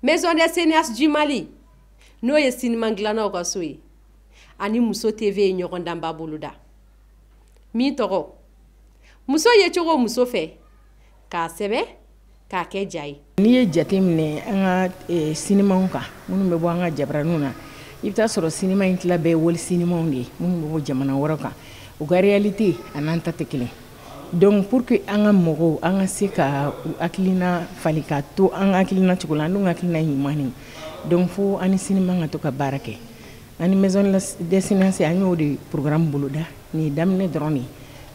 maison des cinéastes du mali n'o ye siniman dilannaw ka so ye ani muso tv ye ɲɔgɔndanba boloda min tɔgɔ muso ye cogo muso fɛ k'a sɛbɛn k'a kɛ ja ye n'i ye jate minɛ an ka e, sinimaw kan minnu bɛ bɔ an ka jabaraniw na i bɛ t'a sɔrɔ sinima in tila bɛɛ wali sinimaw de ye minnu bɛ bɔ jamana wɛrɛ kan u ka réalité an'an ta tɛ kelen donc pour que an ka mɔgɔw an ka se ka u hakilina falen ka to an ka hakilina cogo la an dun ka hakilina ye ɲuman de donc fo an ni sinima ka to ka baara kɛ an ni maison des cinéastes an y'o de programme boloda nin ye daminɛ dɔrɔn de ye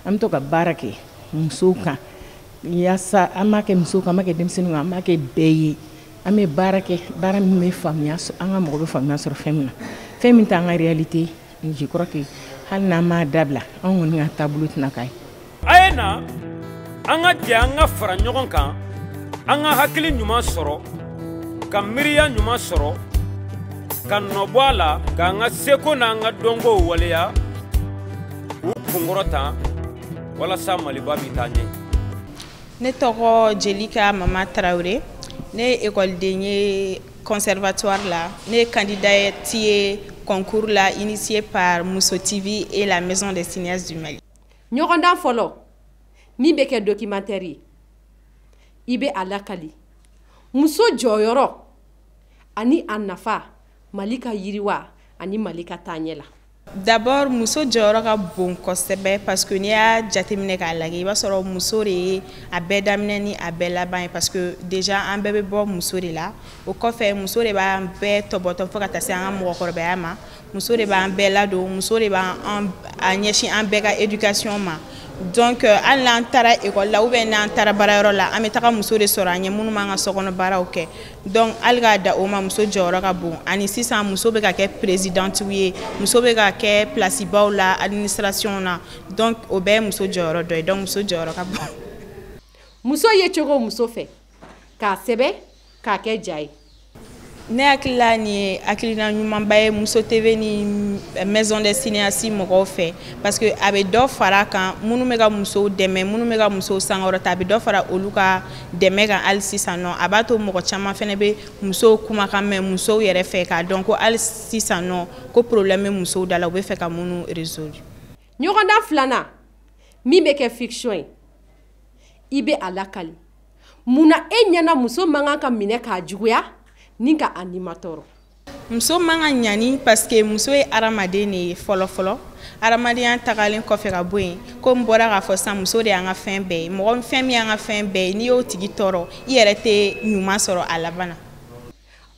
an bɛ to ka baara kɛ musow kan yasa an b'a kɛ muso kan an b'a kɛ denmisɛnnin an b'a kɛ bɛɛ ye an bɛ baara kɛ baara min bɛ faamuya an ka mɔgɔ bɛ faamuya sɔrɔ fɛn min na fɛn min t'an ka réalité je crois que hali n'an m'a dabila an kɔni ka taabolo tɛna k'a ye a ye na an ka jɛ an ka fara ɲɔgɔn kan an ka hakili ɲuman sɔrɔ ka miiriya ɲuman sɔrɔ ka nɔbɔ a la k'an ka seko n'an ka dɔnkow waleya k'u kunkɔrɔta walasa maliba bɛ taa ɲɛ ne tɔgɔ jelika mama traoré ne ye ekɔliden ye conservatoire la ne ye kandidati ye concours la initié par muso tv et la maison des cinéastes du mali ɲɔgɔndan fɔlɔ min bɛ kɛ documentaire ye i bɛ a lakali muso jɔyɔrɔ ani a nafa mali ka yiriwa ani mali ka taaɲɛ la D'abord muso jɔyɔrɔ ka bon kosɛbɛ parce que n'i y'a jateminɛ k'a lajɛ i b'a sɔrɔ muso de ye a bɛɛ daminɛ ni a bɛɛ laban ye parce que déjà an bɛɛ bɛ bɔ muso de la o kɔfɛ muso de b'an bɛɛ tɔbɔtɔ fo ka taa se an ka mɔgɔkɔrɔbaya ma muso de b'an bɛɛ ladon muso de b'a ɲɛsin an bɛɛ ka éducation ma donc euh, hali n'an taara école la ou bien n'an taara baarayɔrɔ la an bɛ taga muso de sɔrɔ an ɲɛ minnu b'an ka sokɔnɔ baaraw kɛ donc hali k'a da o ma muso jɔyɔrɔ ka bon ani sisan muso bɛ ka kɛ perezidantiw ye muso bɛ ka kɛ pilasibaw la administration na donc o bɛɛ ye muso jɔyɔrɔ dɔ ye donc muso jɔyɔrɔ ka bon. muso ye cogo muso fɛ k'a sɛbɛn k'a kɛ ja ye. ne hakili la nin ye hakilina ɲumanba ye muso tv ni maison des cinéastes mɔgɔw fɛ parce que a bɛ dɔ fara a kan minnu bɛ ka musow dɛmɛ minnu bɛ ka musow sankɔrɔta a bɛ dɔ fara olu ka dɛmɛ kan hali sisan nɔ a b'a to mɔgɔ caman fana bɛ musow kumakan mɛn musow yɛrɛ fɛ k'a dɔn ko hali sisan nɔ ko problème bɛ musow da la u bɛ fɛ ka minnu résoudre. ɲɔgɔndan filanan min bɛ kɛ fiction ye i bɛ a lakali munna e ɲɛna muso man kan ka minɛ k'a juguya ni ka a nimatɔɔrɔ. muso man ka ɲani parce que muso ye adamaden de ye fɔlɔfɔlɔ adamadenya tagalen kɔfɛ ka bɔ yen ko n bɔra k'a fɔ sisan muso de y'an ka fɛn bɛɛ ye mɔgɔ fɛn min y'an ka fɛn bɛɛ ye n'i y'o tigi tɔɔrɔ i yɛrɛ tɛ ɲuman sɔrɔ a laban na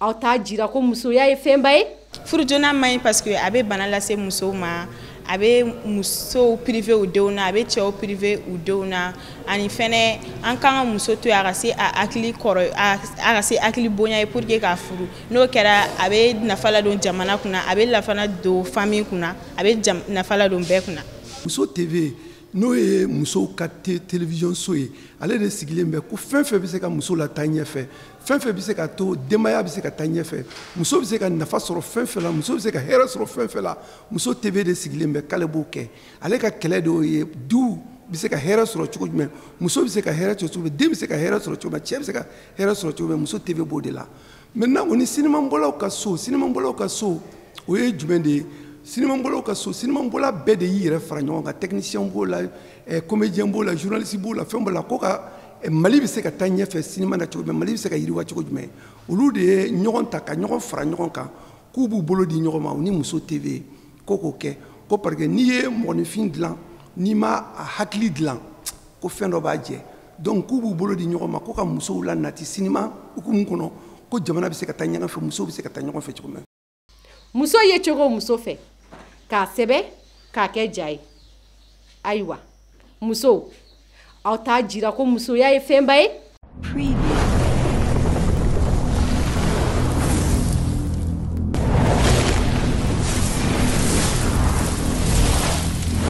aw t'a jira ko musoya ye fɛnba ye furujona man ɲi parce que a bɛ bana lase musow ma a bɛ musow privé u denw na a bɛ cɛw privé u denw na ani fɛnɛ an kan ka muso to yen a ka se a hakili kɔrɔ a ka se hakili bonya ye pour que k'a furu n'o kɛra a bɛ nafa ladon jamana kunna a bɛ lafana don famille kunna a bɛ nafa ladon bɛɛ kunna muso tv n'o ye musow ka télévision so ye ale de sigilen bɛ ko fɛn fɛn bɛ se ka muso lataa ɲɛfɛ fɛn fɛn bɛ se ka to denbaya bɛ se ka taa ɲɛfɛ muso bɛ se ka nafa sɔrɔ fɛn fɛn la muso bɛ se ka hɛrɛ sɔrɔ fɛn fɛn la muso tv de sigilen bɛ k'ale b'o kɛ ale ka kɛlɛ de y'o ye du bɛ se ka hɛrɛ sɔrɔ cogo jumɛn muso bɛ se ka hɛrɛ sɔrɔ cogo den bɛ se ka hɛrɛ sɔrɔ cogo cɛ bɛ se ka hɛrɛ sɔrɔ cogo jumɛn muso tv b'o de la maintenant o ni sinimabɔlaw ka so sinimabɔlaw ka so o ye jumɛn de ye sinimabɔlaw ka so sinimabɔla bɛɛ de y'i yɛrɛ fara ɲɔgɔn kan technicien b'o la eh, comédien b'o la journaliste b'o la fɛn b'o la ko ka eh, mali bɛ se ka taa ɲɛfɛ sinima na cogo jumɛn mali bɛ se ka yiriwa cogo jumɛn olu de ye ɲɔgɔn ta ka ɲɔgɔn fara ɲɔgɔn kan k'u b'u bolo di ɲɔgɔn ma u ni muso tv ko k'o kɛ ko parce que n'i ye mɔgɔninfin dilan n'i ma a hakili dilan ko fɛn dɔ b'a jɛ donc k'u b'u bolo di ɲɔgɔn ma ko ka musow lanati sinima hukumu kɔnɔ ko jamana bɛ se ka taa ɲɔgɔn fɛ musow bɛ se ka taa ɲɔgɔn fɛ cogo min muso yecogo muso fɛ k'a sɛbɛn k'a kɛ ja ye ayiwa musow aw t'a jira ko musoya ye fɛnba ye